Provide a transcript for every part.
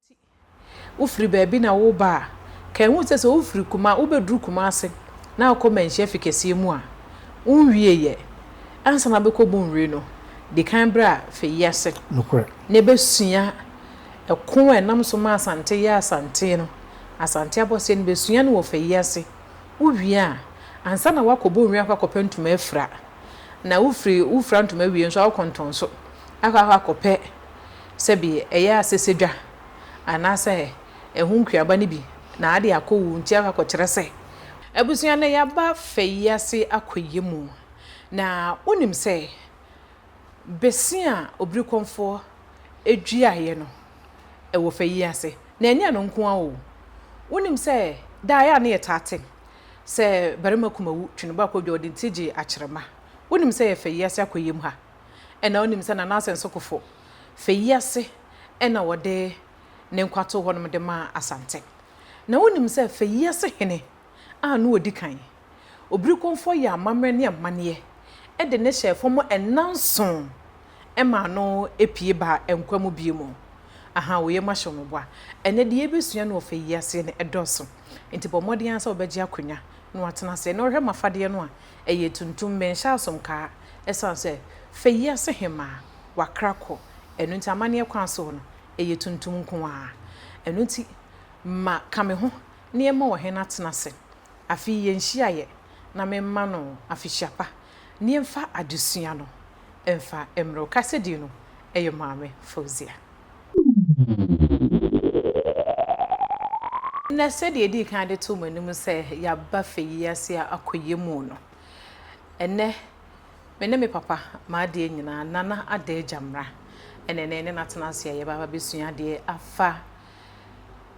Nti wofiri baabi na woreba a, kae hu sɛ sɛ wofiri Kuma wobɛduru Kumase na wokɔ manhyia fi kɛseɛ mu a, wonwieeɛ. Ansa na wobɛkɔ Bonwire no, di kan bra fɛ yi ase Nokorɛ. na yɛbɛsua ɛko a ɛnam so ma Asante yɛ Asante no. Asante abɔseɛ no, bɛsua no wɔ fɛ yi ase. Wowie a, ansa na woakɔ Bonwire akɔ akɔpɛ ntoma afira, na wofiri wofira ntoma wie nso a, wokɔ Ntɔnso akɔ akɔpɛ. Sɛbi ɛyɛ asɛsɛdwa anaasɛ ɛho nkuaba no bi na ade akɔ wo nti akɔ akɔkyerɛ sɛ. Abusua nnɛ yɛaba fɛ yi ase akɔyɛ mu. Na wonim sɛ bese a obirikɔmfoɔ duaeɛ no ɛwɔ fɛ yi ase. Na ɛnyɛ ɛno nko ara o. Wonim sɛ daa yɛ a na yɛtaa te sɛ barima kumawu twe ne bo akɔ dwa ɔde ne ti gye akyerema. Wonim sɛ ɛyɛ fɛ yi ase akɔyɛ mu ha. na onim sɛ Nana Asɛnso Kofo fɛ yi ase na wɔde ne nkwa too hɔnom de maa Asante. Na wonim sɛ fɛ yi ase hene a na odi kan, Obirikonfoɔ yɛɛ amammerɛ ne amanneɛ de no hyɛɛ fa mu nnanson maa no pue baa nkwa mu bio mu. Ahaa, wo yam ahyew me boa. Ɛnnɛ deɛ yɛbɛsua no wɔ fɛ yi ase no dɔɔso, nti bɔ mmɔden ara sɛ wobɛgye akonnwa na woatena ase na wohwɛ m'afadeɛ no a Ɛyɛ tuntum, menhyɛ asomkaa, ɛsiane sɛ fɛ yi ase hemmaa wakra kɔ, ɛno nti amanneɛ kwan so no ɛyɛ tuntum nko ara. Ɛno nti ma ka me ho na yɛmma ɔhene atena ase. Afei yɛnhyiaeɛ na memma no afehyia pa na yɛmfa adesua no mfa mmrɛ wo. Kasadin no ɛyɛ Maame Fauzia. Ná sɛdeɛ yɛdii kan de too mo anim sɛ yɛaba fɛ yi ase akɔ yɛ mu no, ɛnnɛ me ne me papa, m'adeɛ nyinaa, Nana Adah Agyamra, na ɛnnɛ yɛne no atena ase a yɛreba abɛsua adeɛ afa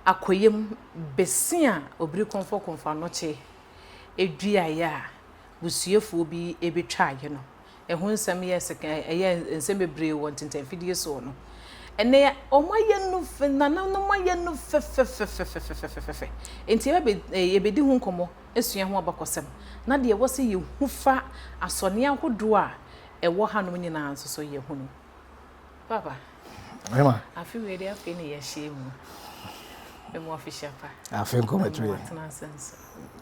akɔyam bese a obiri kɔmfɔkɔmfɔ anɔkye duaeɛ a busuafoɔ bi bɛtwaeɛ no Ɛho nsɛm yɛ sekan, ɛyɛ nsɛm bebree wɔ ntentɛnfidie soɔ no. Ɛnɛ wɔn ayɛ no fɛ, nananom ayɛ no fɛfɛfɛfɛfɛfɛfɛfɛfɛ. Nti yɛbɛ bɛ eh, yɛbɛdi ho nkɔmmɔ, asua ho abakɔsɛm, na deɛ ɛwɔ sɛ yɛhu fa asɔneɛ ahodoɔ a ɛwɔ hanom nyinaa nso so yɛhunu. Papa, Ɛma, afe wei deɛ afei na yɛahyia mu. Ɛmu official pa. afe nkɔmɛto Ɛmu yɛ. atena ase nso.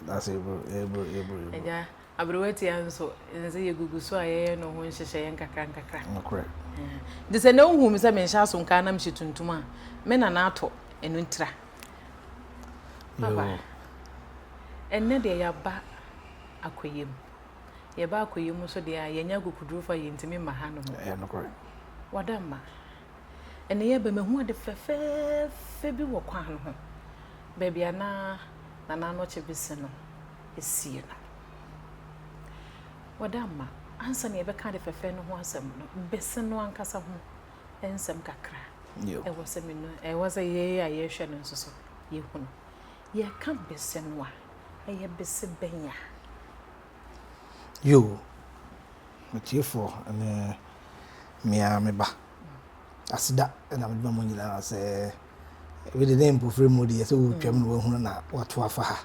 That's April, April, April, April. Agya, Aberewa tiaa nso, ɛsɛ sɛ yegugu so a yɛyɛ ne ho nhyehyɛeɛ nkakrankakra. Nokorɛ. Nti sɛ nnɛ wohuu me sɛ menhyɛ asonkaa na mehyɛ tuntum a, me na na atɔ ɛno ntira. Papa, ɛnnɛ deɛ yɛaba akɔyɛ mu. Yɛba akɔyɛ mu nso deɛ a, yɛnyɛ akokodurofoɔ a yɛntumi mma hanom. Ɛyɛ nokorɛ. Wada mma. Ɛnna yɛba mahu ade fɛfɛɛfɛ bi wɔ kwan no ho, baabi a na Nana Anokye bɛsi no. asie no. Wɔdamma, ansa na yɛbɛka ade fɛfɛ no ho asɛm no, bese no ankasa ho nsɛm kakra. Ɛwɔ sɛ me no, ɛwɔ sɛ yɛn a yɛhwɛ no nso so yɛhunu. Yɛka bese no a, ɛyɛ bese bɛn a? Yo, atiefoɔ ne mmea me ba. Aseda na mede ma mo nyinaa sɛ wede ne mpofiri mu deɛ sɛ wotwam na wahunu na wato afa ha.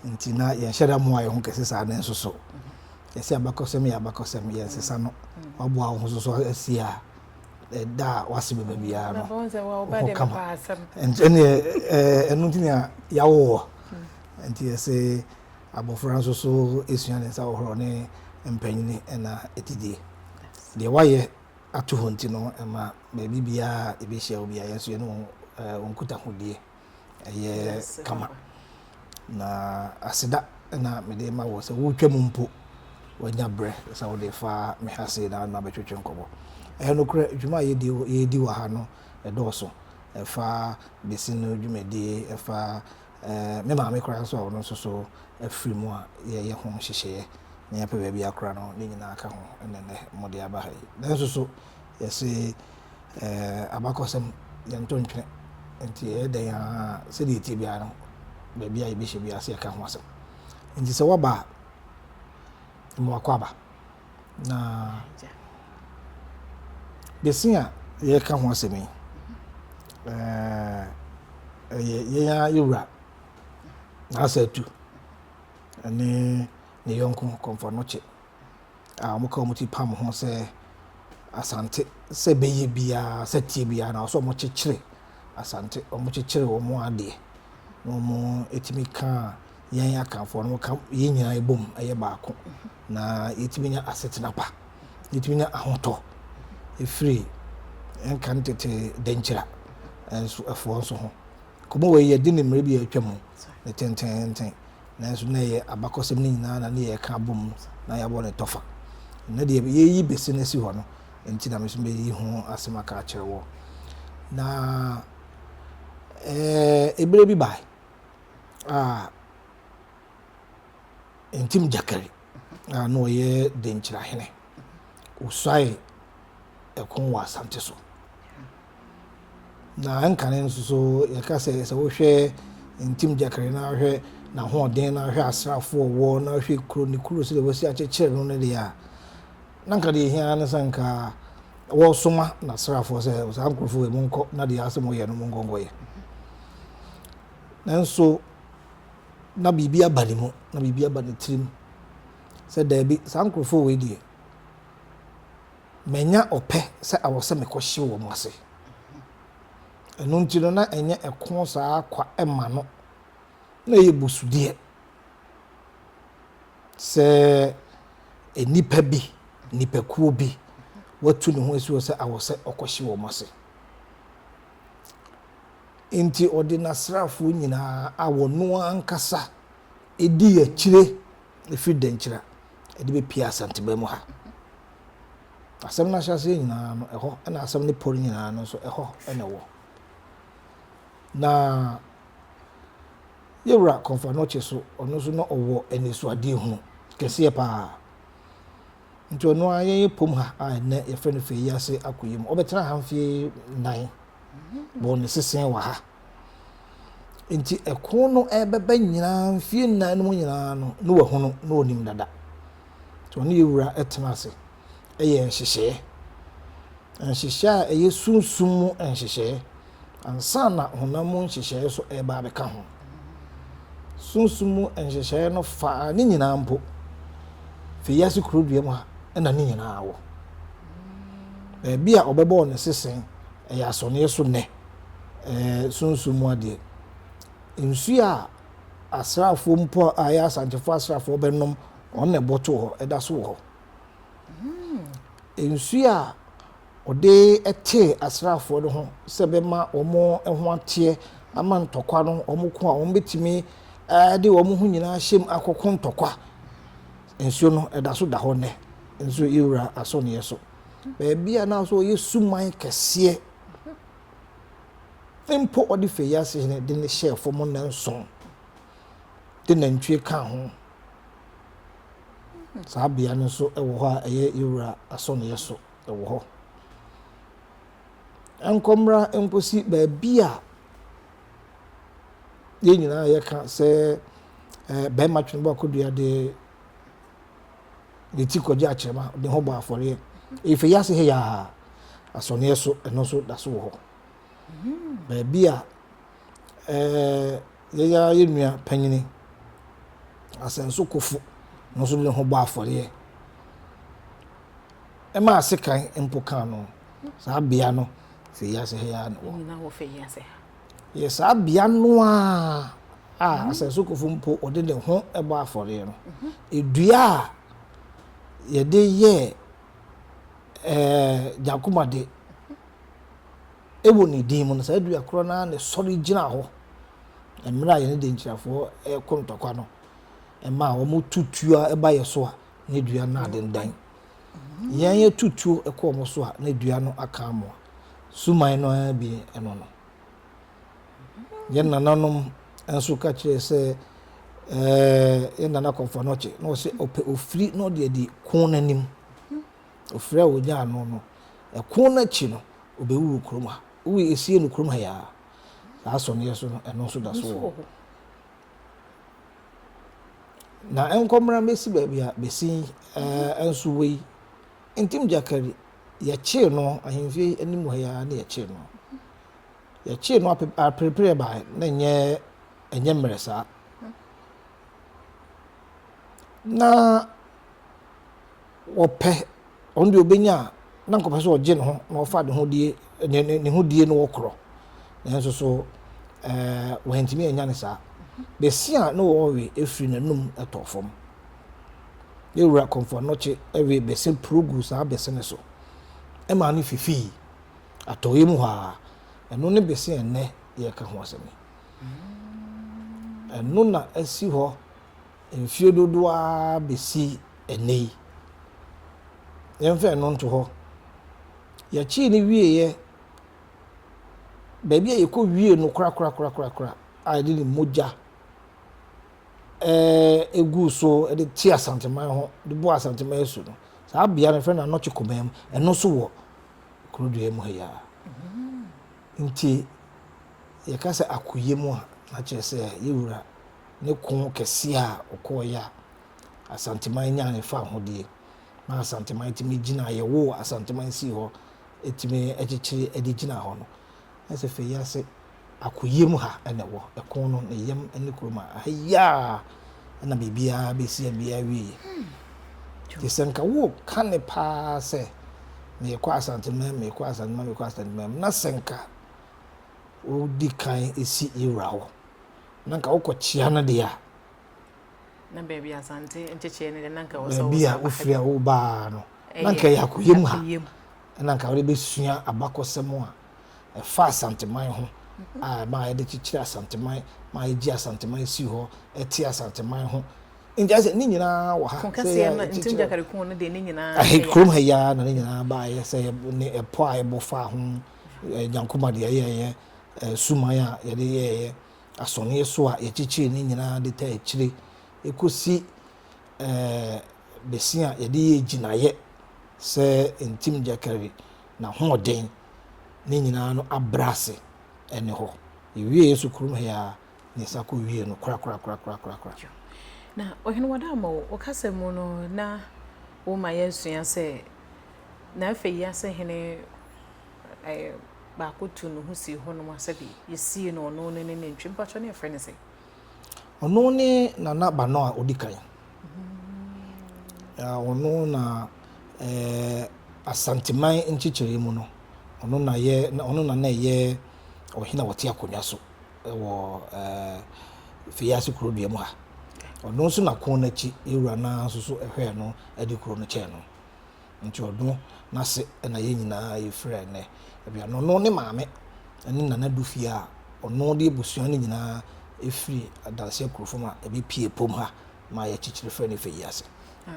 Nti na yɛnhyɛ da mmoa yɛn ho kɛse saa ne nso so. Yɛsɛ abakɔsɛm yɛ abakɔsɛm, yɛnsesa no. Waboa wo ho so so asie a, ɛda a wase bɛba biara no, wo kama. Ɛneɛ, ɛno nti na yawo wɔ. Nti yɛse abɔfra nso so ɛsua ne nsa wɔhorɔ ne mpanyini ɛna ɛtidie. Deɛ wayɛ ato hɔ nti no, ɛma baabi biara ɛbɛhyia wo biara, yɛnso yɛne wo nkutahodie. ɛyɛ kama na aseda na mede ma wɔ sɛ wotwa mu mpo wanya berɛ sɛ wode fa me ha sei na na bɛtwetwe nkɔmmɔ ɛyɛ nokorɛ dwuma a yɛdi wɔ ha no ɛdɔɔso ɛfa bɛsi no dwumadie ɛfa eh, me maame koraa nso a ɔno nso so afiri mu a yɛyɛ ho nhyehyɛeɛ na yɛpɛ baabi akora no ne nyinaa ka ho ɛnɛ nɛ mode aba ha yi nanso so yɛse Abakɔsɛm, yɛnto ntwene, nti ɛyɛ dɛn ara a, sɛdeɛ ɛteɛ biara no, baabi a yɛbɛhyɛ biara sɛ yɛka ho asɛm. Nti sɛ woaba a, ma wakɔ aba. Na bɛsin a yɛreka ho asɛm yi, ɛyɛ yɛn ara yɛwura Naasɛ Atu ne ne yɔnko Kɔmfɔ Anokye a wɔka wɔn ti pam ho sɛ Asante sɛ bɛyɛ biara sɛ tie biara na ɔsɛ wɔkyekyere Asante wɔkyekyere wɔn adeɛ na wɔtumi ka yɛn akanfoɔ no ka yɛn nyinaa ɛbom ɛyɛ baako na yɛtumi nya asetena pa yɛtumi nya ahotɔ ɛfiri nka no tete dɛnkyira nso ɛfoɔ nso ho kɔmɔ wɔ yɛde ne mmerɛ bi atwa mu ne tententen nanso na ɛyɛ abakɔsɛm no nyinaa na na yɛreka abom na yɛabɔ no tɔfa. Ɛnnɛ deɛ, yɛreyi Basin asi hɔ no nti na me nso mɛyi ho asɛm aka akyerɛ wɔ. Na ɛɛ ebere bi bae a Ntim Gyakari a na ɔyɛ Denkyira hene, ɔsuae ɛko wɔ Asante so. Na nkane nso so yɛka sɛ sɛ wohwɛ ntim gyakere na ahwɛ n'ahoɔden na ahwɛ asraafo ɔwɔ na ahwɛ kuro ne kuro sɛdeɛ wɔasi akyekyere no no deɛ a na nka deɛ ɛhia ne sɛ nka wɔresoma n'asraafoɔ sɛ saa nkurɔfoɔ wɔ mu nkɔ na deɛ asɛ moyɛ no mu nkɔnkɔyɛ nanso na biribi aba ne mu na biribi aba ne tirim sɛ daabi saa nkurɔfoɔ wɔ deɛ Manya ɔpɛ sɛ ɛwɔ sɛ mekɔhye wɔn ase. Ɛno nti no, na ɛnyɛ ɛko saa kwa ma no, na ɛyɛ busudeɛ. Sɛ nnipa bi, nnipakuo bi, watu ne ho asi hɔ sɛ awɔ sɛ ɔkɔhye wɔn ase. Nti ɔde n'asraafoɔ nyinaa a wɔn ankasa di akyire firi Dankyira de bɛpie Asantebaa mu ha. Asɛm no ahyɛaseɛ nyinaa no, ɛhɔ na asɛm no pɔre nyinaa no nso ɛhɔ na ɛwɔ. Na yɛwura Kɔmfanɔkye so, ɔno nso na ɔwɔ anisoadeɛ hunu kɛseɛ paa. Nti ɔno ara yɛyɛ pom ha a ɛnɛ yɛfrɛ no fɛ yi ase akɔyɛ mu. Ɔbɛtena ha mfeɛ nan bɔɔ ne sesee wɔ ha. Nti ɛko no ɛbɛba nyinaa mfie nnan no mu nyinaa no na wahunu na onim dada. Nti ɔne yɛ wura ɛtena ase ɛyɛ nhyehyɛɛ. Nhyehyɛɛ a ɛyɛ sunsum mu nhyehyɛɛ ansa na honam mu nhyehyɛɛ so ɛba abɛka ho. Sunsum mu nhyehyɛɛ no fa ne nyinaa mpo fi yɛse kurodua mu ha ɛna ne nyinaa wɔ. Baabi a ɔbɛbɔɔ ne sesɛn ɛyɛ asɔneɛ so nɛ. ɛɛ sunsum mu adeɛ. Nsuo a asraafoɔ mpo a ɛyɛ asantefo asraafoɔ bɛnom wɔn na ɛbɔto hɔ ɛda so wɔ hɔ. Hmm. Nsuo a ɔde ɛtee asraafoɔ no ho sɛ bɛma wɔn ho ateɛ ama ntɔkwa no wɔn ko a wɔn bɛtumi ɛde wɔn ho nyinaa hyɛm akɔko ntɔkwa. Nsuo no ɛda so da hɔ nnɛ nso yɛwura asɔneɛ so. Baabi a na so ɔyɛ suman kɛseɛ Mpo ɔde faa yi ase hene de no hyɛɛ fam nnanson, de nantwie kaa ho. Saa bea no nso wɔ hɔ a ɛyɛ yɛn wura asɔneɛ so wɔ hɔ. Ɛnkɔ mmra nkɔsi baabi a yɛn nyinaa yɛka sɛ eh, bɛrima twene bɔ akodua de de ti kɔgye akyerɛma de ho bɔ afɔreɛ efi yi ase ha yi a asɔneɛ so ɛno nso da so wɔ hɔ baabi a ɛɛ yɛyɛ yɛ nua panyini asɛnso kofo no nso de ho bɔ afɔreɛ ɛma asekan mpo kan no saa bea no fɛ yi ase ha yi a na wɔ. yɛ saa bea no ara a asɛsokofo mpo ɔde ne ho bɔ afɔreɛ no. Mhm. Dua a yɛde yɛ gyakomade wɔ ne din mu no, saa dua korɔ no ara na ɛsɔre gyina hɔ mmerɛ a yɛne denkyirafoɔ ɛkɔ ntɔkwa no, ɛma wɔtu tuo ba yɛ so a, na dua no adendan. Yɛn atu tuo kɔ wɔn so a, na dua no aka amoa. Suman no ara bi no no. Yɛn nananom nso ka kyerɛ sɛ ɛɛ yɛn nana kɔfa no ɔkyɛ na ɔsɛ ɔpɛ ofiri na ɔde adi kɔn n'anim. Ofiri a wɔnya ano no, ɛkɔn n'akyi no, ɔbɛwuwu kurom ha. Wowie esie no kurom ha yaa. Saa asɔneɛ so no, ɛno nso da so wɔ hɔ. Na ɛnkɔ mmra mmɛsi baabi a bɛsi ɛɛ nso wei ntim gyakari yɛkyee no ahemfie anim hɔ yi ara na yɛkyee no yɛkyee no aperepere ba na nyɛ ɛnyɛ mmerɛ saa na wɔpɛ, ɔno deɛ ɔbɛnya a, na nka ɔpɛ sɛ ɔgye ne ho na ɔfa ne ho die, ne, ne, ne ho die no ɔkorɔ. Nanso so, ɛɛ, wɔantumi anya ne saa. Bɛsi a na wɔwe ɛfiri n'anum ɛtɔɔ fam. Ne wura Kɔmfoanɔkye ɛwe bɛsɛ puro guu saa bɛse no so. Ɛmaa no fifii atɔeɛ mu hɔ ara. Ɛno ne bɛse a ɛnnɛ yɛreka ho asɛm yi. Ɛno na asi hɔ. mfeɛ dodoɔ ara bɛsi ɛnnɛ yi. Yɛmfa ɛno nto hɔ. Yɛkyee no wieeɛ, baabi a yɛkɔwiee no korakorakorakora a yɛde ne mogya ɛɛ guu so de te Asanteman ho de bɔɔ Asanteman asu no, saa bea no yɛfrɛ no Anɔkye Komam, ɛno nso wɔ Kurodua yi mu ha yi ara. Nti yɛka sɛ akoyɛ mu a, na kyerɛ sɛ yɛ wura ne ko kɛseɛ a ɔkɔɔeɛ a Asanteman nyaa ne faahodie ma Asanteman tumi gyina a yɛwoo Asanteman sii hɔ tumi kyekyere de gyina hɔ no. Na sɛ fei ase akoyɛ mu ha na ɛwɔ, ɛko no ne yam ne kurom a, aha yi ara na biribiara bɛsi awie awieeɛ. Nti sɛ nka woka ne paa sɛ meekɔ Asanteman mu, meekɔ Asanteman mu, meekɔ Asanteman mu, na sɛ nka wodi kan si Ewura hɔ, na nka wokɔkyea no deɛ a, na baabi Asante nkyekyeɛ no deɛ na nka wɔ sɛ baabi a wofiri a wobaa no, na nka ɛyɛ akoyam ha, na nka wode bɛsua abakɔsɛm a ɛfa Asanteman ho a ɛma a yɛde kyekyere Asanteman ma a yɛgye Asanteman si hɔ te Asanteman ho nkyɛ sɛ ne nyinaa wɔ ha kurom ha yia na ne nyinaa baayɛ sɛ ne ɛpɔ a ɛbɔ faa ho nyankoma deɛ yɛyɛ suman a yɛde yɛyɛ asɔneɛ so a yɛkyekyere ne nyinaa de ta akyire ɛkɔsi bɛsi a yɛde yɛ gyinaeɛ sɛ ntim gyakari n'ahoɔden ne nyinaa no abrɛ ase ne hɔ. Yɛwieeɛ sukuu no hɛ ara na yɛsan kɔ wiee no korakorakorakorakorakora. Na Ɔhene Wadaama o, wo kasa mu no na woma yɛasua sɛ, na afei yi ase hene ɛɛ baako tuu ne ho sii hɔnom a sɛdeɛ yɛsie no ɔno ne ne nantwie, mpakyɛ na yɛfrɛ no sɛ? Ɔno ne Nana Banɔ a ɔdi kan. Ɔno na eh, Asanteman nkyekyere mu no, ɔno na yɛ ɔno na na ɛyɛ ɔhene a ɔte akonnwa so wɔ eh, Fiase Kurodua mu ha. Ɔno nso na ko no akyi yɛwura no nso so hwɛɛ no de kuro no kyɛɛ no. Nti ɔno n'ase na yɛn nyinaa yɛfira nnɛ. Bia no ɔno ne maame ne Nana du fie a ɔno de abusua no nyinaa firi Adanseɛ Akurofo mu a ɛbɛ pie pom ha ma yɛ kyekyere frɛ no fɛ yi ase.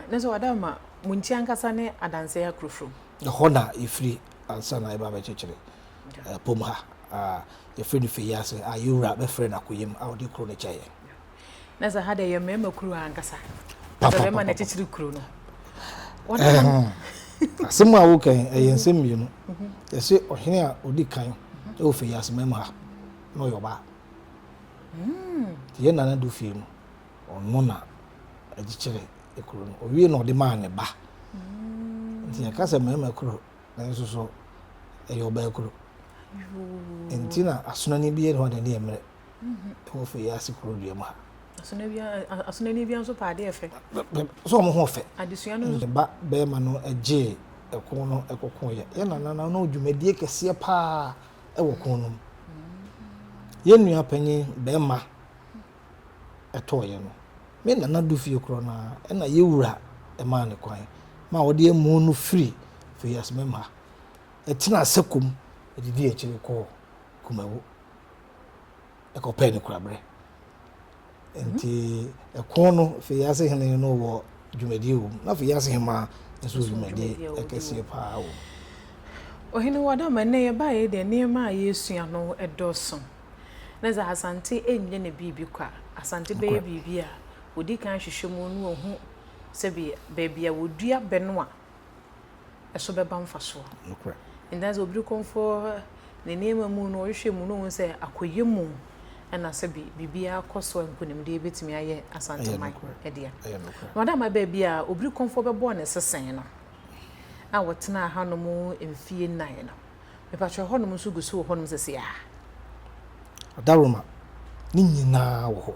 Ne nso ɔda ma mo nti ankasa ne Adanseɛ Akurofo mu. Ɛhɔ na yɛfiri ansa na yɛba bɛkyekyere pom ha a yɛfrɛ no fɛ yi ase a yɛwura bɛfrɛ no akoyem a ɔde kuro no kyɛ yɛn. na sɛ ha deɛ yɛ mmarima kuro ankasa sɛ bɛrima na kyekyere kuro no asɛm a woka yi ɛyɛ nsɛm mmienu yɛse mhm. ɔhene a ɔdi kan ɛwɔ fɛ yɛ asɛmam ha na ɔyɛ ɔbaa hmm. yɛ nana do fie no ɔno na agyekyerɛ kuro no ɔwie na ɔde maa ne ba hmm. nti yɛka sɛ mmarima kuro nanso so ɛyɛ ɔbaa kuro nti na asonani bi yɛ ne hɔ na ne yɛ mmerɛ ɛwɔ fɛ yɛ ase kuro dua mu ha. asonani bia nso pɛ adeɛ fɛ. sɛ ɔmo ho fɛ. adesua no nso. ba bɛrima no gyee ɛko no ɛkoko yɛ yɛ nana no no dwumadie kɛseɛ paa ɛwɔ ko no mu yɛ nua panyin bɛrima ɛtɔɔ yɛ no me nana du fie korɔ no ɛna yɛ wura ɛmaa ne kwan ma wɔde amu no firi firi asomam ha ɛtena asɛkom ɛdidi akyire kɔɔ kumawu kɔpɛɛ ne koraberɛ. Nti ɛko no firi ase hene no wɔ dwumadie wɔ mu na firi ase hemaa nso dwumadie ɛkɛseɛ paa wɔ mu. Ohene Wadama ɛnɛ yɛbaeɛ deɛ nneɛma a yɛresua no ɛdɔɔso na dza Asante ɛnyɛ ne biribi kwa. Asante bɛyɛ biribi a wɔdi kan hwehwɛ mu na wɔhu sɛbi baabi a wɔdua bɛ no a so bɛba mfasoɔ. Nokorɛ. Nti na sɛ obi rekɔmfɔɔ ne nneɛma mu no, ɔhwehwɛ mu na ɔhu sɛ akɔyɛ mu na sɛ bi, biribiara kɔ so a nkunimdie bɛtumi ayɛ Asanteman dea. Ɛyɛ nokorɛ. Ɛyɛ nokorɛ. Na ɔdama baabi a obi rekɔmfɔɔ bɛbɔɔ ne sesɛn no, a wɔtenaa hanom mfeɛ nnan no, mepakyɛ ɛhɔnom nso gu so wɔ hɔnom seesei ara? Ɔdawuroma, ne nyinaa wɔ hɔ.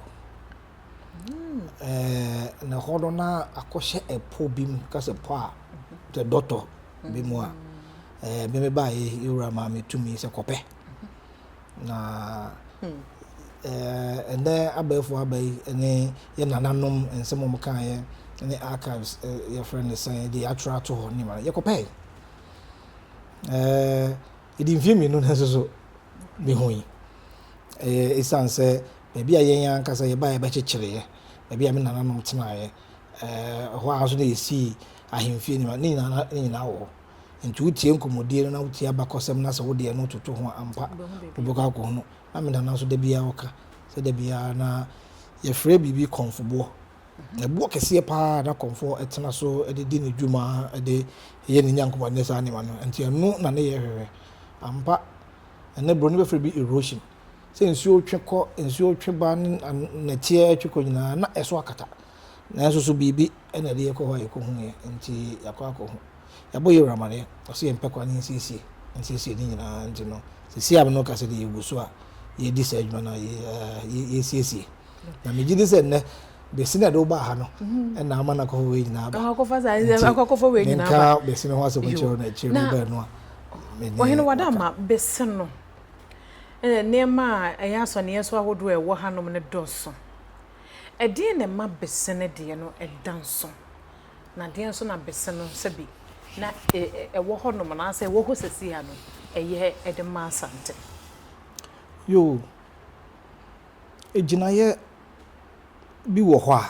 Ɛɛ, na hɔ no na akɔhyɛ ɛpo bi mu, ka sɛ pɔ a the doctor bi mu a, ɛɛ, me mebaeɛ yɛwura maa me tumi sɛ kɔpɛ. Na ɛɛ, ɛnɛ abɛɛfo aba yi ne yɛ nananom nsɛm wɔn kaeɛ ne archives yɛfrɛ no sɛn deɛ yɛatwerɛ ato hɔ ne ma yɛkɔpɛe. Ɛɛ, ɛdi mfeɛ mmienu na nso so mehui. Ɛyɛ esiane sɛ baabi a yɛn ankasa yɛbaeɛ bɛkyekyereeɛ, baabi a me nananom tenaeɛ, ɛhɔ ara nso na yɛsii ahemfie nneɛma, ne nyinaa na ne nyinaa wɔ hɔ. Nti wotie nkɔmmɔdie no na wotie abakɔsɛm na sɛ wodeɛ no toto ho a, ampa wobɛkɔ akɔhunu. Na me nana nso da biara ɔka sɛ da biara na yɛfrɛ biribi kɔmfoboɔ. Ɛboɔ kɛseɛ paa na kɔmfoɔ tena so de di ne dwuma de yɛ ne Nyankopɔn ne saa nneɛma no. Nti ɛno na ne yɛ hwehwɛ. Ampa. Ɛnnɛ Buroni bɛfrɛ no bi erosion. Sɛ nsuo retwe kɔ, nsuo retwe ba ne nnɛteɛ retwe kɔ nyinaa na ɛso akata. Nanso so biribi na ɛde yɛkɔ hɔ a yɛkɔhuiɛ nti yɛakɔ akɔhu. Yɛabɔ yɛwura amaneɛ, ɔsɛ yɛmpɛ kwa ne nsiesie nsiesie ne nyinaa nti no, seesei a me ne wo kasa no yɛgu so a yɛredi saa adwuma no a yɛresiesie. na megye di sɛ nnɛ besi na ɛde wobaa ha no mhm. ɛna ama no akɔfo wei nyinaa ba akɔkɔfo wei nyinaa ba menka besi no ho asɛm kyerɛ no akyire no bɛɛ no a ɔhene wada ma besi no nneɛma a ɛyɛ asɔneɛ so ahodoɔ a ɛwɔ hanom no dɔɔso ɛdeɛn na ɛma besi no deɛ no ɛda nso na deɛn nso na besi no sɛbi na ɛwɔ hɔnom anaasɛ ɛwɔ hɔ sɛsi ha no ɛyɛ ɛde ma asante yoo Gyinaeɛ bi wɔ hɔ a,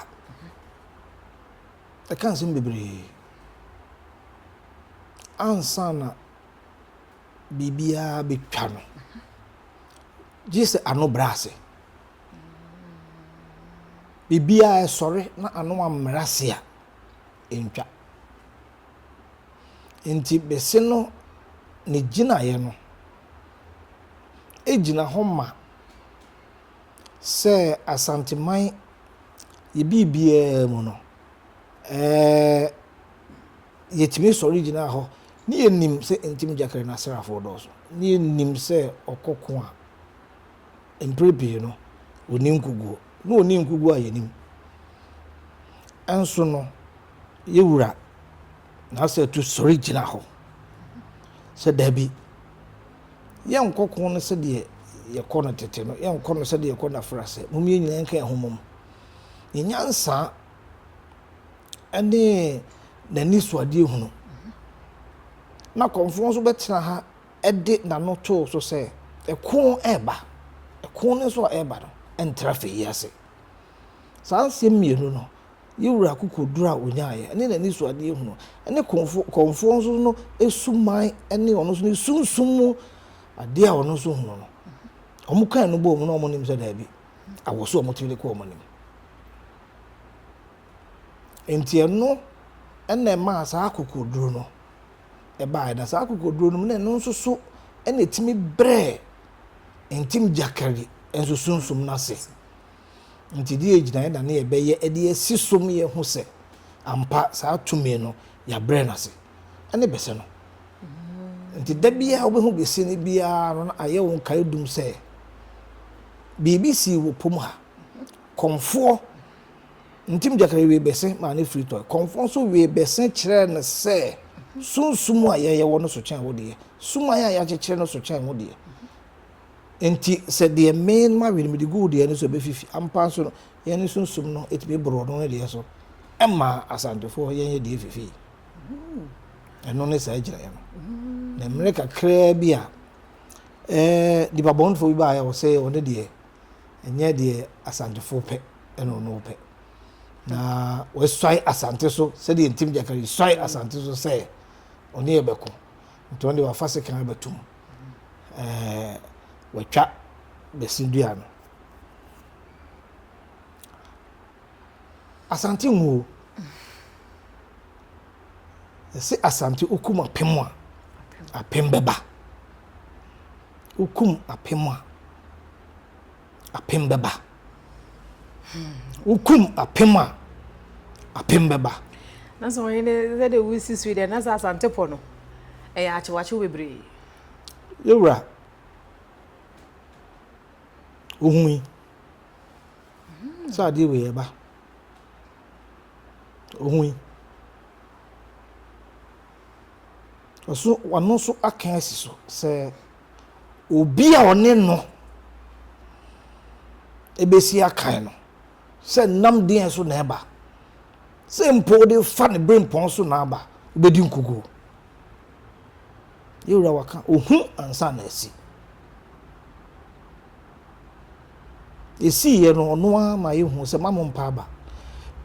ɛka nsɛm bebree. Ansa na biribiara bɛtwa no, gye sɛ ano brɛ ase. Biribiara ɛsɔre na ano ammrɛ ase a, ɛntwa. Nti bese no ne gyinaeɛ no gyina hɔ ma. sɛ Asanteman yɛ biribiara mu no, eh, yɛtumi sɔre gyina hɔ ne yɛnim sɛ Ntim Gyakre no asraafoɔ dɔɔso, ne yɛnim sɛ ɔkɔ ko a mprɛ pii no ɔni nkuguo, na ɔni nkuguo a yɛnim. Ɛnso no, yɛwura na sɛ tu sɔre gyina hɔ sɛ daabi. Yɛnkɔ ko no sɛdeɛ yɛkɔ no tete no, yɛnkɔ no sɛdeɛ yɛkɔ no aferasɛ. Mom yɛn nyinaa nka yɛn ho mmom. Yɛn nyansa ne n'ani so adeɛ hunu. Na kɔmfoɔ nso bɛtena ha de n'ano too so sɛ ɛko ɛreba. Ɛko no nso a ɛreba no, ɛntra fɛ yi ase. Saa nsɛm mmienu no, Ye wura akokoduru a ɔnyaeɛ, ne n'anisoadeɛ hunu, ne kɔmfo, kɔmfoɔ nso no suman ne ɔno nso ne sunsum mu adeɛ a ɔno nso hunu no. Wɔn kan no bɔ wɔn na wɔn nim sɛ daabi, awɔ so wɔn tiri kɔ wɔn anim. Nti ɛno ɛna ɛmaa saa akokoduro no ɛbaeɛ na saa akokoduro no na ɛno nso so ɛna ɛtumi brɛ ntim gyakari nso sunsum no ase. Enti deɛ gyinaeɛ na ne yɛbɛyɛ de asi so ma yɛahu sɛ ampa saa tumi no yɛabrɛ no ase ne bese no. Nti da biara wobɛhu bese no biara no na ayɛ wo nkae dum sɛ biribi sii wɔ pom ha. Kɔmfoɔ ntim gyakere wee bese maa ne firi tɔe. Kɔmfoɔ nso wee bese kyerɛɛ no sɛ sunsum a yɛyɛ wɔ no so kyɛn wo deɛ. Suman a yɛakyekyere no so kyɛn wo deɛ. Enti sɛ deɛ me ma we no mede guu deɛ no so ɛbɛfifi. Ampa nso no, yɛn ne sunsum no tumi boroo no ne deɛ so maa Asantefoɔ yɛn yɛ deɛ fifii. Ɛno ne saa gyinaeɛ no. Na mmerɛ kakraa bi a eh, nipa bɔnfoɔ bi baeɛ wɔ sɛ ɔne deɛ ɛnyɛ deɛ Asantefoɔ pɛ ɛna ɔno pɛ. Na wɔasuae Asante so sɛdeɛ ntim gyakari suae Asante so sɛ ɔne yɛbɛko. Nti ɔno deɛ wafa sekan abɛto mu. ɛɛ wɔatwa besedua no. Asante nwu o. Ɛsɛ Asante okum apem a apem bɛba. Okum apem a. apem bɛba. Wokum apem a, apem bɛba. Na sɛ wɔn ne sɛ de wusi sui dɛ na sɛ asante pɔ no ɛyɛ akyewakyew bebree. Yɛwura ohun yi sɛ adeɛ wei ɛba ohun yi ɔso wɔn nso aka asi so sɛ. obi a ɔne no ɛbɛsi akan no sɛ nam deɛ so na ɛba sɛ mpo wode fa ne berempɔn so na aba wobɛdi nkuguo yɛwura waka ohu ansa na asi ɛsiiɛ no ɔno ara ma yɛhu sɛ ma mo mpa aba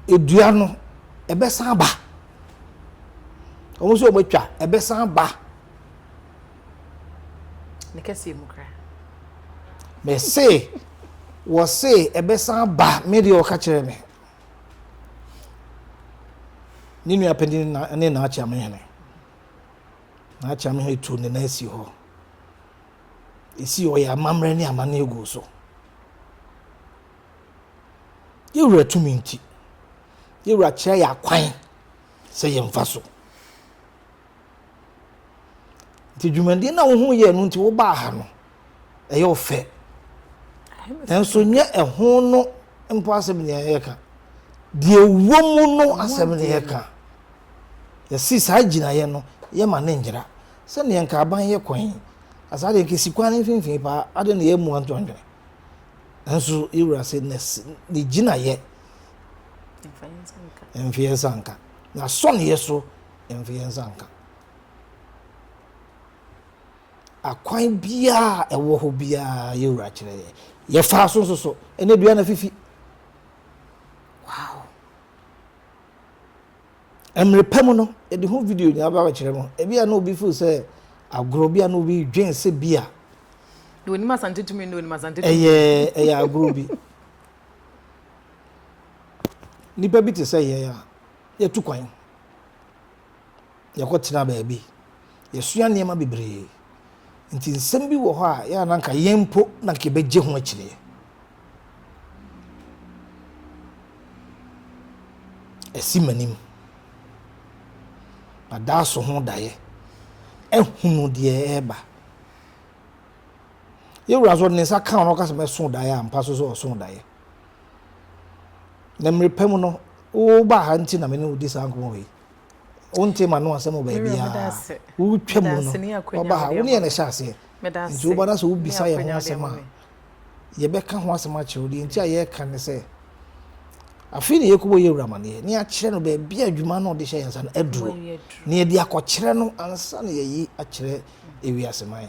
ɛdua no ɛbɛsan ba wɔn nso wɔatwa ɛbɛsan ba Ne kɛseɛ mu koraa. Me se, wɔ se ɛbɛsan aba me deɛ ɔka kyerɛ me. Ne nua panin ne Naakye Amehene. Naakye Amehene tu ne nan asi hɔ. Esi ɔyɛ amammerɛ ne amanneɛ gu so. Yɛwura tumi nti, yɛwura kyerɛ yɛ akwan sɛ yɛmfa so. Nti dwumadie no a wo ho yɛ no nti wo baa ha no ɛyɛ wo fɛ. Nanso nyɛ ɛho no mpo asɛm na yɛ ka. Deɛ wɔ mu no asɛm na yɛ ka. Yɛsi saa gyinaeɛ no yɛ ma ne nyera. Sɛdeɛ nka aban yɛ kwan yi. Asaa deɛ kesi kwan no mfimfini paa ade na yɛ mu antwantwene. Nanso yɛwura se ne gyinaeɛ mfeɛ nsa nka. Na sɔneɛ so mfa yɛn nsa nka. Akwan biara a ɛwɔ hɔ biara yɛ wura kyerɛ yɛn. Yɛfaa so nso so, ɛna dua na fifi. Wow. Mmerɛ pɛ mu no, yɛde ho video nyinaa ba bɛkyerɛ mu. Ebi a na obi feel sɛ agorɔ bi a na obi dwen sɛ bi a. Na onim asante tumi na onim asante tumi. Ɛyɛ ɛyɛ agorɔ bi. Nipa bi te sɛ yɛn a, yɛtu kwan. yɛkɔtena baabi. Yɛsua nneɛma bebree. Nti nsɛm bi wɔ hɔ a yɛ a na anka yɛn mpo na anka yɛbɛgye ho akyinnyeɛ. Ɛsi m'anim. Madaa so ho daeɛ ahunu deɛ ɛreba. Yɛwura nso ɔde ne nsa ka ho na ɔka sɛ mɛso daeɛ a, ampa so sɛ ɔso daeɛ. Na mmerɛ pa mu no, wobaa ha nti na me ne wo di saa nkɔmmɔ yi. Wonte m'ano asɛm wɔ baabi a wotwa mu no, waba ha, wo ne yɛn na ɛhyɛ aseɛ. Nti woba no sɛ wobisa yɛn ho asɛm a, yɛbɛka ho asɛm akyerɛ wo. Deɛ nti a yɛreka ne sɛ, afei na yɛkɔbɔ yɛ wura amaneɛ ne akyerɛ no baabi a adwuma no ɔde hyɛ yɛn nsa no aduro na yɛde akɔkyerɛ no ansa na yɛyi akyerɛ ewiase man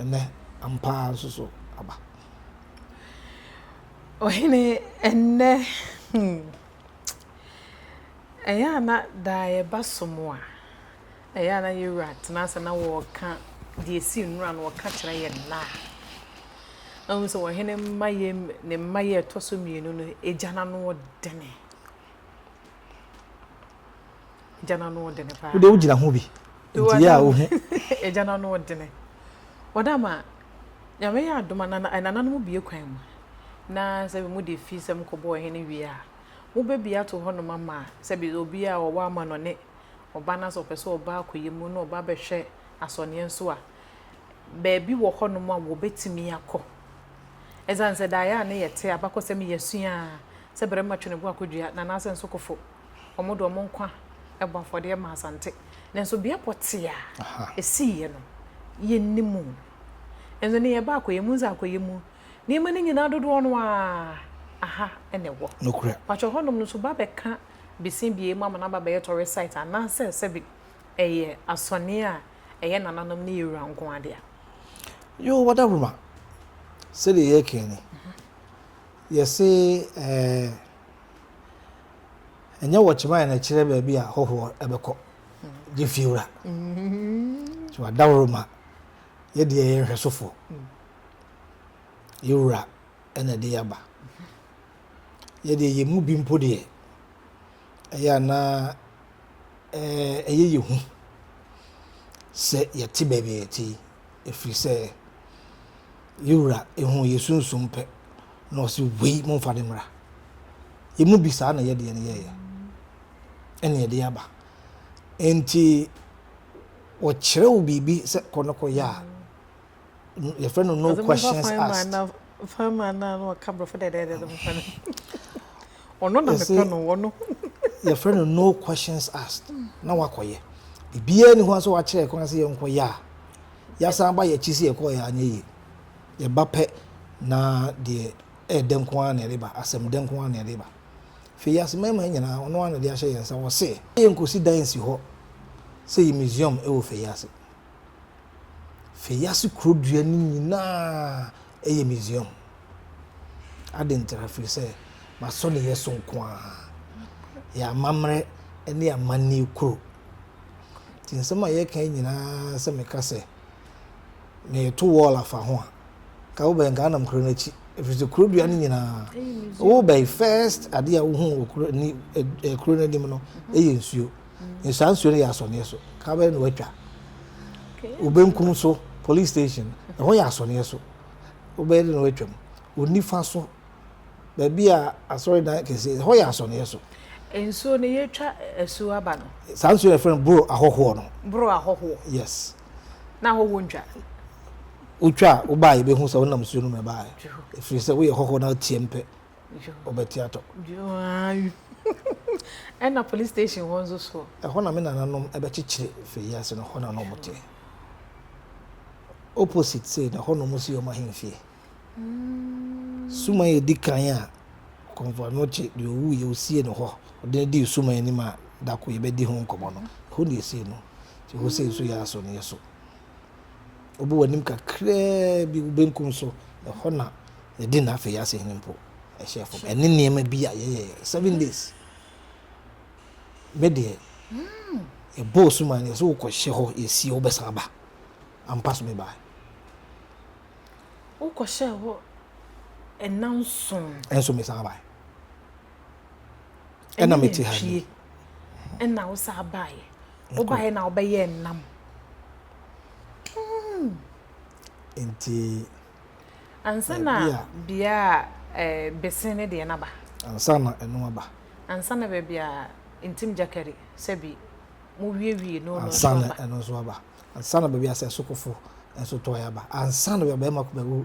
Ɛnnɛ ampa ara nso so aba. Ɔhene, ɛnnɛ, hmm, ɛyɛ a na daa yɛba som a, ɛyɛ a na yɛn wura tena ase na wɔka deɛ ɛsi nnora no wɔka kyerɛ yɛn nna a. Ɛhu sɛ ɔhene mma yɛ ne mma yɛ ɛtɔ so mmienu no, agya no ano ɔdene. Agya no ano ɔdene paa. Wode wogyina ho bi. Nti yɛ a wohu. Agya no ano ɔdene. Wɔda ma Nyame yɛ adom a nananom bie kwan mu na sɛbi mode afi sɛm kɔbɔ ɔhene wie a, mobɛ bie ato hɔ nom ama sɛbi obi a ɔwɔ amanɔne ɔba na sɛ ɔpɛ sɛ ɔba akɔyɛ mu na ɔba bɛhwɛ asɔneɛ nso a, baabi wɔ hɔ nom a wɔbɛtumi akɔ. Ɛsiane sɛ daeɛ a ne yɛte abakɔsɛm yɛasua a, sɛ barima twe ne bo akodua nanaase nso kofo, wɔde wɔn nkwa bɔ afɔdeɛ ma Asante. Nanso bea pɔtee a ɛsiiɛ no, yɛnni mu. Nanso nea ɛba akɔyɛ mu nso akɔyɛ mu. Nneɛma no nyinaa dodoɔ no ara, aha na ɛwɔ. Nokorɛ. Patwɛ hɔnom no so ba bɛka bese bie mu ama no aba abɛyɛ tourist site anaasɛ sɛbi ɛyɛ asɔneɛ a ɛyɛ nananom ne yɛn wura nko ara dea? Yoo, w'adaworoma. Sɛdeɛ yɛrekɛn ni. Yɛse ɛɛ, ɛnyɛ wɔ Kyeman na ɛkyerɛ baabi a hɔhoɔ ɛbɛkɔ gye fiewura. So adaworo ma yɛdeɛ yɛ nhwɛsofoɔ. Yɛwura ɛna ɛde yɛaba. Yɛdeɛ yɛn mu bi mpo deɛ ɛyɛ anaa ɛɛ ɛyɛ yɛ hu sɛ yɛte baabi a yɛte yi. ɛfiri sɛ yɛn wura ɛhu yɛn sunsum pɛ na ɔse wei momfa ne mmra yɛn mu bi saa na yɛdeɛ no yɛyɛ ɛne ɛde aba nti wɔkyerɛ wo biribi sɛ kɔ no kɔyɛ a yɛfrɛ no no questions asked Mfama no a na ɔka borɔfo dɛdɛɛdɛ no mfa no ɔno na mepɛ no wɔ no yɛfrɛ no no questions asked na wakɔyɛ biribiara ni hɔ sɛ wakyerɛ kwan sɛ yɛnkɔyɛ a yɛasan ba yɛakyi sɛ yɛkɔyɛ anyɛ yie yɛba pɛ na deɛ ɛdɛ nko ara na ɛde ba asɛm dɛ nko ara na ɛde ba fei yɛ asɛmɛma nyinaa ɔno ara na de ahyɛ yɛn nsa wɔ se yɛnkɔsi dan nsi hɔ sɛ yɛ museum wɔ fei ase Afei wiase kuro dua no nyinaa yɛ museum. Adɛn nti? Ɛfiri sɛ masɔ ne yɛ so nko ara. Yɛ amammerɛ ne amanneɛ kuro. Nti nsɛm a yɛreka yi nyinaa sɛ meka sɛ mereto wall afa ho a, nka wobɛn nka nam kuro no akyi. Ɛfiri sɛ kuro dua no nyinaa wobɛn first adeɛ a wohu wɔ kuro no anim no yɛ nsuo. nsaa nsuo no yɛ asɔneɛ so ka bɛyɛ na watwa obenkum so police station ɛhɔ yɛ asɔneɛ so wobɛyɛ de na watwam onifa so baabi a asɔre dan kɛse ɛhɔ yɛ asɔneɛ so nsuo no yɛtwa asuo aba no saa nsuo no yɛfrɛ no boro ahɔhoɔ no boro ahɔhoɔ yes na ahɔhoɔ ntwa wotwa a wobaa yɛbɛhu sɛ wonam nsuo no mɛbaa ɛfiri sɛ woyɛ hɔhoɔ na wotiam pɛ ɔbɛte atɔ. Ɛna police station hɔ nso so. Ɛhɔ na me nananom ɛbɛkyekyere firi yi ase no hɔ na na wɔn te. Opposite sei na hɔ na wɔn si wɔn ahemfie. Mm. Suma yɛ di kan a kɔnfɔ no kye deɛ owu yɛ osie no hɔ ɔde ne di suma anim a dako yɛbɛdi ho nkɔmɔ no ɛhɔ na esie no. Ti hɔ sei nso yɛ aso no yɛ so. Wobɔ w'anim kakraa bi, wo benkum so, ɛhɔ na yɛde na afei ase hene mpo ɛhyɛ fam. Ɛne nneɛma bi a yɛyɛ seven days. Me deɛ, hmm. yɛbɔ osuma yɛ sɛ wokɔhyɛ hɔ yɛsie wobɛsan aba. Ampa so mebaa. Wokɔhyɛ hɔ ɛnanson. Ɛnso mesan aba. ɛna mete ha ni ɛna wo saa baeɛ wo baeɛ na wobɛyɛ nnam hmm. nti ansa na bia eh, bese ne deɛ naba ansa na ɛno aba ansa na baabi a ntim gyakari sɛbi mowiewie no no nso aba ɛno nso aba ansa na baabi a sɛ sokofo nso tɔe aba ansa na bɛma kɔbɛwo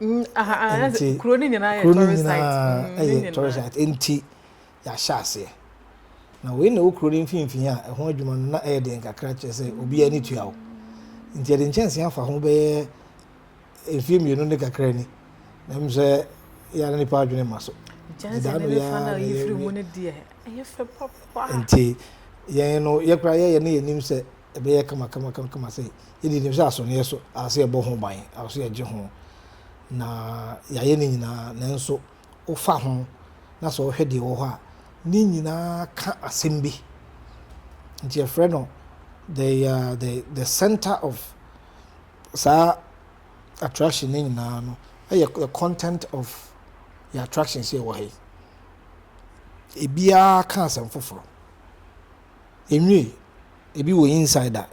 Mm, aha, aha, na sɛ Nti, kuro no nyinaa yɛ kuro no tourist site. nyinaa Mm, ne yɛ tourist nyinaa. site nti yɛahyɛ aseɛ na wei na ɛwɔ kuro no mfimfini a ɛho adwuma no na ɛyɛ den kakra kyerɛ sɛ obiara ni tua wo nti yɛde nkyɛnsee afa ho bɛyɛ mfeɛ mmienu ne kakra ni na ɛm sɛ yɛ na nipa adwene ma so Nkyɛnsee Ɛda no no ne yɛ fa no a na yɛ yɛfiri mu wie. no deɛ, ɛyɛ fɛ papa. nti yɛn no yɛkora yɛyɛ ne yɛnim sɛ ɛbɛyɛ kamakamakama sɛ yɛde nim sɛ asɔneɛ so a sɛ yɛbɔ ho ban a sɛ yɛgye ho na yɛayɛ ne nyinaa nanso wofa ho na sɛ wohwɛ deɛ wɔ hɔ a ne nyinaa ka asɛm bi nti yɛfrɛ no the, uh, the, the center of saa attraction ne nyinaa no ɛyɛ the content of the attraction sɛ ɛwɔ ha yi ebiara ka asɛm foforɔ enwie Ebi wɔ inside a,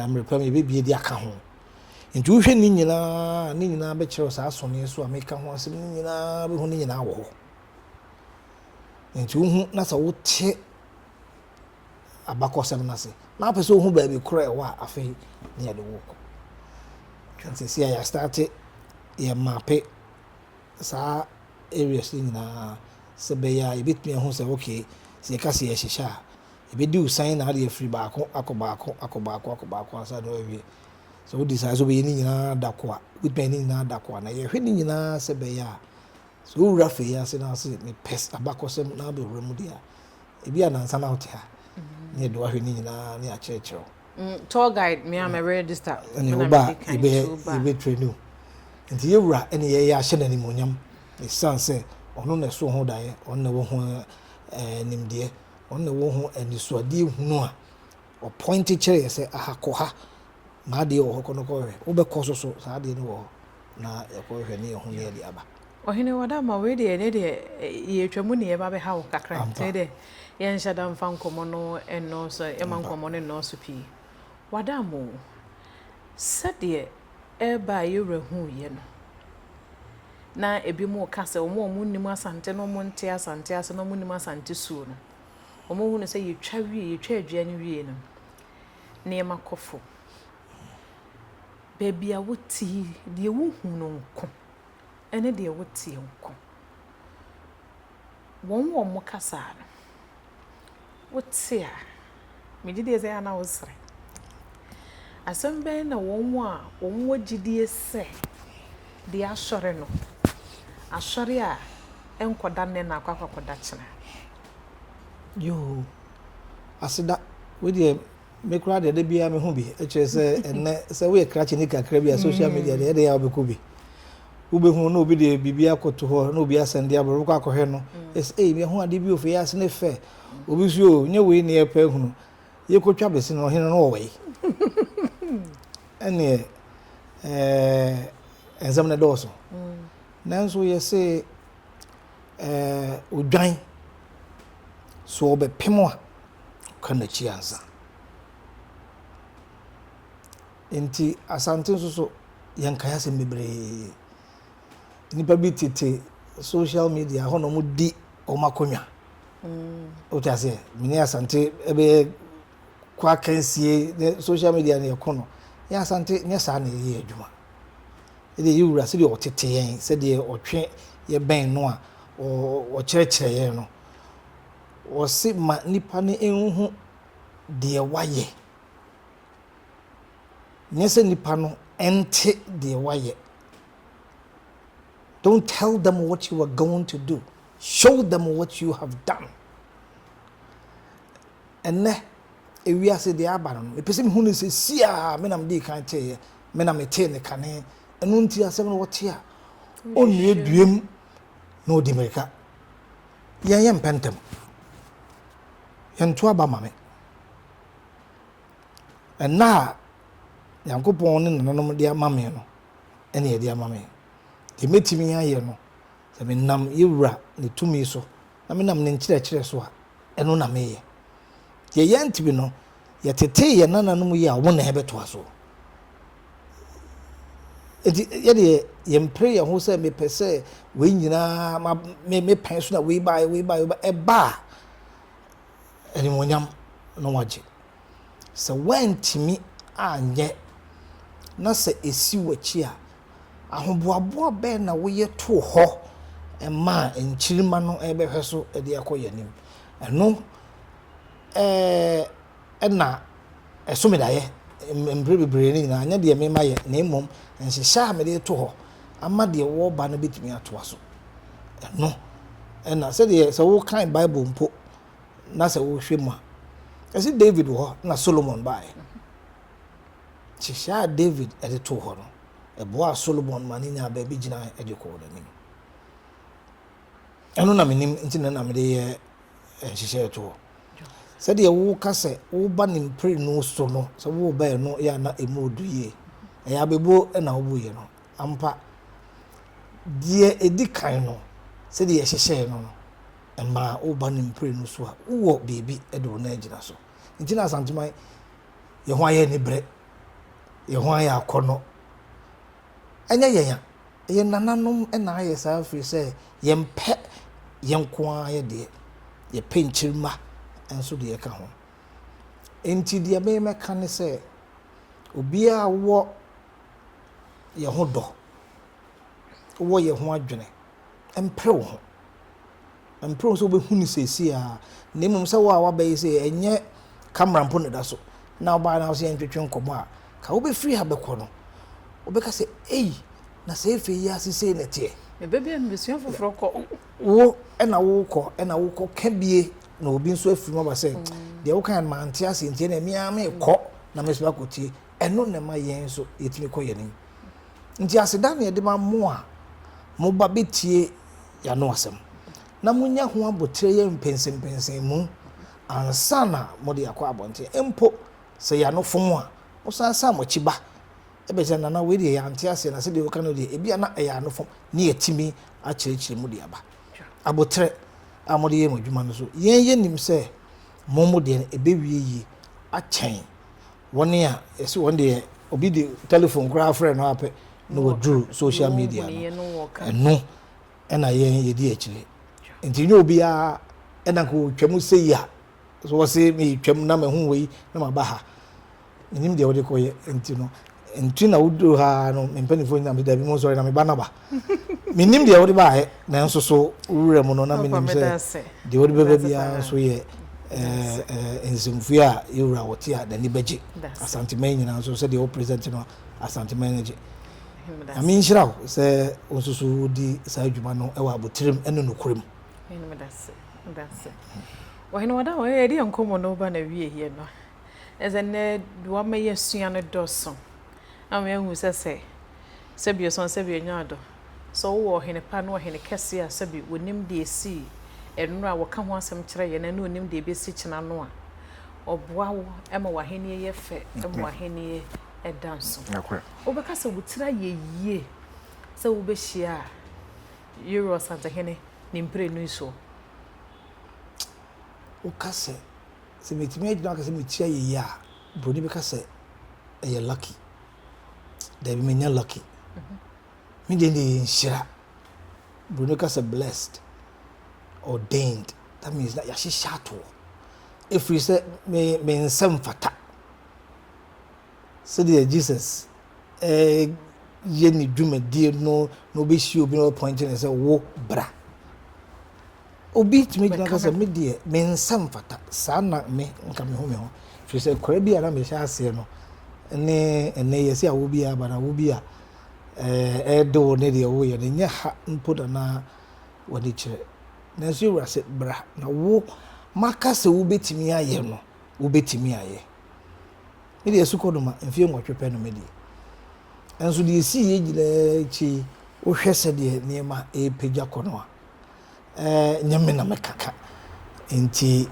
mmerɛ pa yɛbɛbie de aka ho. Nti wohwɛ ne nyinaa a, ne nyinaa bɛkyerɛ wo saa sɔneɛ so a meka ho asɛm no nyinaa wobɛhu ne nyinaa wɔ hɔ. Nti wohu na sɛ wote abakɔsɛm no ase na wopɛ sɛ wohu baabi korɔ ɛwɔ a afei ne yɛde wo kɔ. Nti sɛ yɛ starte yɛ mape saa areas no nyinaa sɛ bɛyɛ a yɛbɛtumi ahu sɛ okay sɛ yɛka sɛ yɛhyehyɛ a Ɛbɛdi wo san na ade afiri baako akɔ baako akɔ baako akɔ baako ansa na wawie. Sɛ wodi saa sɛ wobɛyɛ ne nyinaa da ko a, wobɛtumi ayɛ ne nyinaa da ko a, na yɛhwɛ ne nyinaa sɛ bɛyɛ a, sɛ wowura fei ase na ase mepɛ abakɔsɛm na wobɛwura mu deɛ a, ebi a nansa na wote ha na yɛde wahwɛ ne nyinaa ne akyerɛkyerɛw. Mm, tour guide me a mɛ register. Ɛne wo ba yɛbɛ train o. Nti yɛwura ɛne yɛyɛ ahyɛ no animonyam ɛsiane sɛ ɔno na ɛso ho daeɛ ɔno na wɔ ho eh, nimdeɛ wɔn na wɔhu anisoadeɛ hunu a ɔpɔinte kyerɛɛ sɛ aha kɔ ha na adeɛ wɔ hɔ kɔ no kɔhwɛ wobɛkɔ so so saa adeɛ no wɔ hɔ na yɛkɔhwɛ ne yɛhu ne yɛde aba. Ɔhene Wadamma wei deɛ ɛnɛ deɛ yɛtwa mu ne yɛba bɛha wo kakra nti ne deɛ yɛnhyɛ da mfa nkɔmmɔ no nnɔɔso yɛma nkɔmmɔ no nnɔɔso pii Wadamma o sɛdeɛ ɛreba a yɛwura huiɛ no na ebinom reka sɛ wɔn a wɔnnim Asante no wɔnte Asante ase na wɔnnim Asante suo no, wɔhu no sɛ yɛtwa wie, yɛtwa aduan no wie no, nneɛma kɔ fo. Baabi a wote yi, deɛ wohu no nko ne deɛ woteɛ nko. wɔn wɔn kasa no, wote a, megye die sɛ ana wosere. Asɛm bɛn na wɔn a wɔn wɔ gyidie sɛ deɛ asɔre no, asɔre a ɛnkɔda nnɛ na akɔ akɔda kyena? Yoo, aseda, wei deɛ Me koraa deɛ da biara mehu bi ɛkyerɛ sɛ ɛnɛ sɛ woyɛ krakyeni kakra bi a social media deɛ ɛdeɛ a wobɛkɔ bi wobɛhu na obi deɛ biribi akoto hɔ na obi asɛnde abrɛ wobɛkɔ akɔhwɛ no ɛsɛ ei meɛho adeɛ bi ofei ase ne fɛ obi nso o nyɛ wei ne yɛpɛ hunu yɛkɔtwa bɛsi no ɔhene no wɔwɔ yi ɛneɛ ɛɛ nsɛm no dɔɔso nanso yɛse eh, odwan. So ɔbɛpem a, ka n'akyi ansa. Nti Asante nso so yɛnkae asɛm bebree. Nnipa bi tete social media hɔ na wɔdi wɔn akonnwa. Mm. Wote aseɛ, mene Asante ɛbɛyɛ kɔ akansie ne social media ne ɛko no. Yɛ Asante nyɛ saa na yɛyɛ adwuma. sɛdeɛ yɛ Wura, sɛdeɛ ɔtete yɛn, sɛdeɛ ɔtwe yɛ bɛn no a ɔkyerɛkyerɛ yɛn no. Wɔse ma nipa no nhu deɛ wayɛ. Nyɛ sɛ nipa no nte deɛ wayɛ. Don't tell them what you are going to do. Show them what you have done. ɛnnɛ ewiase deɛ aba no no, mepɛ sɛ mehu no sɛ si a me na mede kan teeɛ, me na metee ne kane. Ɛno nti asɛm no wɔte a, ɔnnue duam na ɔdi mmirika. Yɛn yɛ mpɛ ntɛm. Yɛnto aba ma me. Ɛnna a Nyankopɔn ne nananom de ama me no, ɛne ɛde ama me. Deɛ mɛtumi ayɛ no, Sɛ menam yɛ Wura ne tumi so na menam ne nkyerɛkyerɛ so a, ɛno na meyɛ. Deɛ yɛantumi no, yɛtetee yɛn nananom yɛ a wɔn na yɛbɛtoa so. Enti yɛdeɛ yɛmpere yɛn ho sɛ mepɛ sɛ wei nyinaa mepɛn so na wei baeɛ wei baeɛ wei baeɛ ɛba a animuonyam na wɔagye. Sɛ woantumi anyɛ na sɛ esi w'akyi a, ahoboaboa bɛn na woyɛ too hɔ maa nkyirimma no rebɛhwɛ so de akɔ yɛn anim? Ɛno eh, na ɛso meda yɛ mmerɛ bebree no nyinaa, nyɛ deɛ mema yɛ na mmom nhyehyɛ a mede to hɔ ama deɛ wɔreba no bɛtumi atoa so. Ɛno na sɛdeɛ sɛ wokan Bible mpo na sɛ wohwɛ mu a ɛsɛ david wɔ hɔ na solomon baeɛ nhyehyɛ a david de too hɔ no ɛboaa solomon ma ne nyaa baabi gyina de kɔɔ n'anim ɛno na menim nti na na mede yɛ nhyehyɛ to hɔ sɛdeɛ woka sɛ woba ne mpire no so no sɛ wobɛɛ no yɛ na ɛmu ɔdu yie ɛyɛ abɛbuo na wobuiɛ no ampa deɛ ɛdi kan no sɛdeɛ yɛhyehyɛɛ no no ma wo ba no mpire no so a, wowɔ biribi de wo nan agyina so. Nti na Asanteman yɛ ho ayɛ aniberɛ, yɛ ho ayɛ akɔnnɔ. Ɛnyɛ yɛn a, yɛn nananom na ayɛ saa firi sɛ yɛmpɛ yɛn nko ara yɛ deɛ, yɛpɛ nkyirima nso deɛ ɛka ho. Nti deɛ mɛka ne sɛ obiara wɔ yɛn ho dɔ, wɔ yɛn ho adwene. mpere wo ho. Mpere wo sɛ wobɛhu no seesei ara, na mmom sɛ wo a woaba yi sɛ ɛnyɛ kamera mpo na ɛda so na wobaa na wo sɛ yɛntwetwe nkɔmmɔ a, ka wobɛfiri ha bɛkɔ no, wobɛka sɛ, ei, na sɛ efe yi ase sei na ɛteɛ. Ɛbɛ bi a mebɛsua foforɔ kɔ. Wo na wokɔ na wokɔ ka bie na obi nso afiri mu aba sɛ mm. deɛ woka no mante aseɛ nti ɛna mmea mekɔ na mesoma kɔtie ɛno na ɛma yɛn nso yɛtumi kɔ yɛn anim Nti aseda na yɛde ma mo a moba bɛtie yɛn ano asɛm, na monya ho aboterɛ yɛ mpɛnsɛmpɛnsɛn mu ansa na mode akɔ abɔnten. Mpo sɛ yɛn ano fo mo a, mosan san mo akyi ba bɛkyerɛ nana wei deɛ yɛante aseɛ na sɛdeɛ woka no deɛ ebia na ɛyɛ ano fam ne yɛatumi akyerɛkyerɛ mu de aba. Aboterɛ a mode yɛ mo adwuma no so, yɛn yɛnim sɛ mo mo deɛ no ɛbɛwie yie akyɛn wɔn a yɛsi wɔn deɛ obi de telephone koraa frɛ no apɛ na wɔduru social media no ɛno ɛna yɛn yɛdi akyire nti nyɛ obiara ɛna nka ɔtwam sɛ yi a so wɔse metwam na mahu wei na maba ha menim deɛ wode kɔyɛ nti no nti na woduru ha no mempanifoɔ nyina mede dabi mu nsɔre na meba naba Mennim deɛ wode baa he, nanso so wo werɛ mu no, na menim sɛ deɛ wode bɛba biara nso yɛ nsɛmfua a yɛwura wɔte a n'ani bɛgye. Asanteman nyinaa nso sɛ deɛ wo present no Asanteman no gye. Na menhyira wo sɛ wo nso so wodi saa adwuma no wɔ abotirim ne nokorɛm. Ɔhene wɔda hɔ yɛde yɛ nkɔmmɔ no ba na wie yɛ no ɛsɛ nnɛ wama yɛasua no dɔso Ama yɛahu sɛ sɛ sɛbi ɔsɔn sɛbi ɔnyɛ adɔ, sɛ wowɔ ɔhene pa ne ɔhene kɛse a sɛbi ɔnim deɛ ɛsii ɛnnora a wɔka ho asɛm kyerɛ yɛn ɛne ɔnim deɛ ɛbɛsi kyena no a, ɔboa wo ma w'ahennie yɛ fɛ ma w'ahennie da nso. Wobɛka sɛ wo tiri ayɛ yie sɛ wobɛhyiaa Yoro Asantehene ne mprenu nsuo? Woka sɛ, sɛ mɛtumi agyina hɔ aka sɛ me tiri ayɛ yie a. Broni bi ka sɛ ɛyɛ lucky dabi menya lucky me deɛ deɛ yɛ nhyira Broni ka sɛ blessed ordained that means that yɛahyehyɛ atoɔ ɛfiri sɛ me me nsa mfata sɛdeɛ Jesus eh, yɛ ne dwumadie no na ɔbɛhyia obi na ɔpɔnkye ne sɛ wo bra Obi tumi gyina ka sɛ me deɛ me nsa mfata saa na me nka me ho me ho firi sɛ kora bi a na mehyɛ aseɛ no ne ɛnɛ yɛsi awo bi a bana wo bi a ɛde wo ne deɛ woyɛ no nyɛ ha mpo na na wɔde kyerɛ nanso ewura sɛ bra na wo maka sɛ wobɛtumi ayɛ no wobɛtumi ayɛ me deɛ sukɔ no ma mfie nwɔtwe pɛ no me deɛ nanso deɛ ɛsii yɛ nyinaa akyi wohwɛ sɛ deɛ nneɛma ɛrepagya kɔ no a eh, nyɛ me na mekaka. Enti,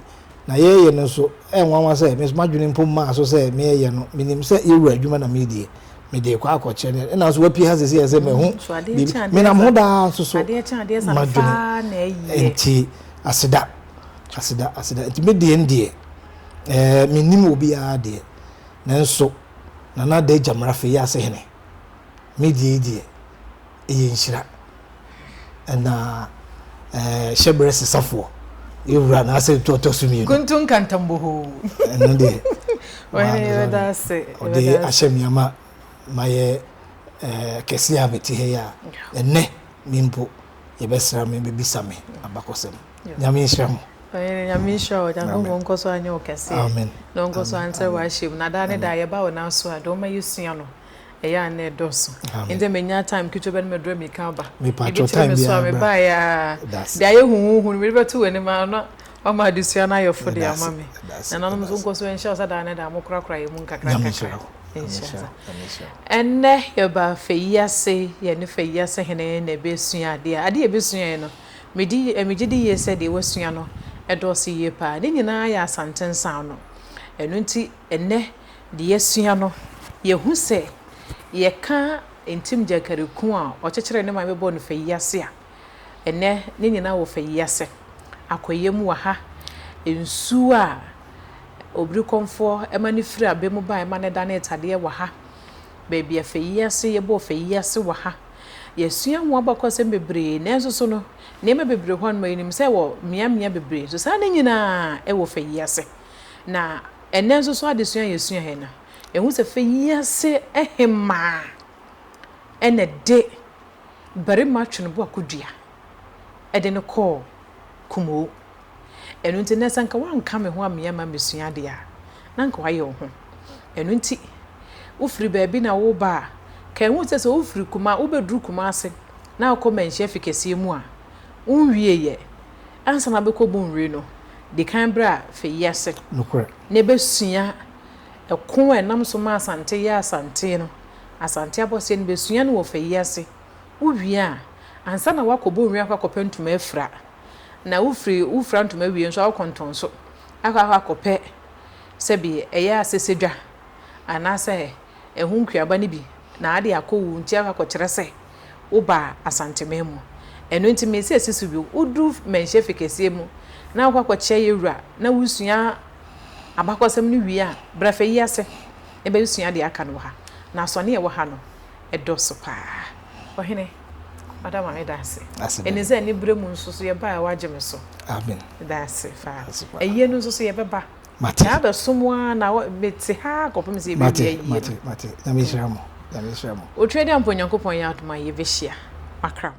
na yɛyɛ no nso, ɛyɛ nwanwa sɛ me nso m'adwene mpo mmaa so sɛ meyɛ no. Menim sɛ yɛwura adwuma na meyɛ die. Mede kɔ akɔkyɛ ne ɛna nso wapie ha sɛ sɛ sɛ mahu biribi. Menam ho daa nso so m'adwene. Enti, aseda, aseda, aseda. Enti, me deɛ deɛ, eh, menim obiara deɛ. Nanso, Nana Dagya Mmarafe yi ase hene, me deɛ deɛ, yɛ nhyira. Na hyɛbrɛ sesafoɔ yɛ wura n'asɛm tu ɔtɔ so mmienu. Kuntu nkantambohoo. Ɛno deɛ. Wɛne yɛbɛda ase. Ɔde ahyɛ me ama mayɛ kɛse a mete ha yi a ɛnɛ me mpo yɛbɛsra me bɛbisa me abakɔsɛm. Nyame nhyira mo. Ɔhene Nyame nhyira wo. Nyankopɔn nkɔ so anyɛ wo kɛseɛ. Amen. Na ɔnkɔ so antrɛ w'ahyɛm. Na daa ne daa yɛba wo nan so a deɛ ɔma yɛsua no. ɛyɛ a na ɛdɔɔso ɛnti menya time ketewa bɛ no mɛdrɔ mirika aba ebi tiri me so a mebaeɛ a deɛ ayɛ huhuhu no mede bɛto w'anim a na wama adesua no ayɛ fo de ama me nananom nso nkɔ so ɛnhyɛ wo sɛ daa ne daa mokorakora yɛ mu nkakrankakra ɛnnɛ yɛba fɛyi ase yɛne fɛyi ase hene na ɛbɛsua adeɛ a adeɛ yɛbɛsuaɛ no megye di yie sɛ deɛ wasua no ɛdɔɔso yie paa ne nyinaa yɛ asantensan no ɛno nti ɛnnɛ Deɛ yɛasua no, yɛhu sɛ yɛka Ntim Gyankare Ku a ɔkyekyeree ne man bɛbɔɔ no fɛ yi ase a, ɛnnɛ ne nyinaa wɔ fɛ yi ase. Akɔyɛ mu wɔ ha, nsuo a Obirikɔmfoɔ ma no firi abɛ mu baeɛ ma no danee tadeɛ wɔ ha, baabi a fɛ yi ase yɛbɔɔ fɛ yi ase wɔ ha. Yɛasua ho abakɔsɛm bebree, nanso so no, nneɛma bebree wɔ hɔ a yɛnim sɛ ɛwɔ mmeammea bebree nso. Saa ne nyinaa wɔ fɛ yi ase. Na ɛnnɛ nso so adesua a yɛsua he no, yɛhu sɛ fɛ yi ase hemaa na de barima twenebo akodua de no kɔɔ kumoo. Ɛno nti nnɛ sɛ nka woanka me ho a me ama mesua adeɛ a, na nka woayɛ wo ho. Ɛno nti wofiri baabi na woba a, ka hu sɛ sɛ wofiri kuma wobɛduru kuma ase na wokɔ manhyia fi kɛseɛ mu a, wonwieeɛ ansa na wabɛkɔ bonwire no, di kan bra fɛ yi ase na yɛbɛsua ɛko a ɛnam so ma Asante yɛ Asante no. Asante abɔseɛ no, bɛsua no wɔ fɛ yi ase. Wowie a, ansa na woakɔ bonwire akɔ akɔpɛ ntoma afira, na wofiri wofira ntoma wie nso a, wokɔ ntɔnso akɔ akɔpɛ sɛbi ɛyɛ asɛsɛdwa anaasɛ ɛho nkuaba no bi na ade akɔ wo nti akɔ akɔkyerɛ sɛ woba Asanteman mu. Ɛno nti mese si so bio, wodu mmɛnhyɛ fi kɛseɛ mu na wokɔ akɔkyerɛ yɛ wura na wosua abakɔsɛm no wie a, bra fa yi ase na yɛbɛsua deɛ aka no wɔ ha. Na asɔne a ɛwɔ ha no, ɛdɔso pa ara. Ɔhene, mada Maame da ase. Ɛnim sɛ aniberɛ mu nso so yɛbaeɛ a woagye me so. Meda ase fa. Ayie no nso so yɛbɛba. Mate. Daa bɛso mu ara na wɔ, mete ha ara kɔpem sɛ yɛbɛwie ayie no. Mate, mate, mate. Nyame nhyira mo. Nyame nhyira mo. Otweadi ampa Onyankopɔn yɛ adom a yɛbɛhyia. Makra mo.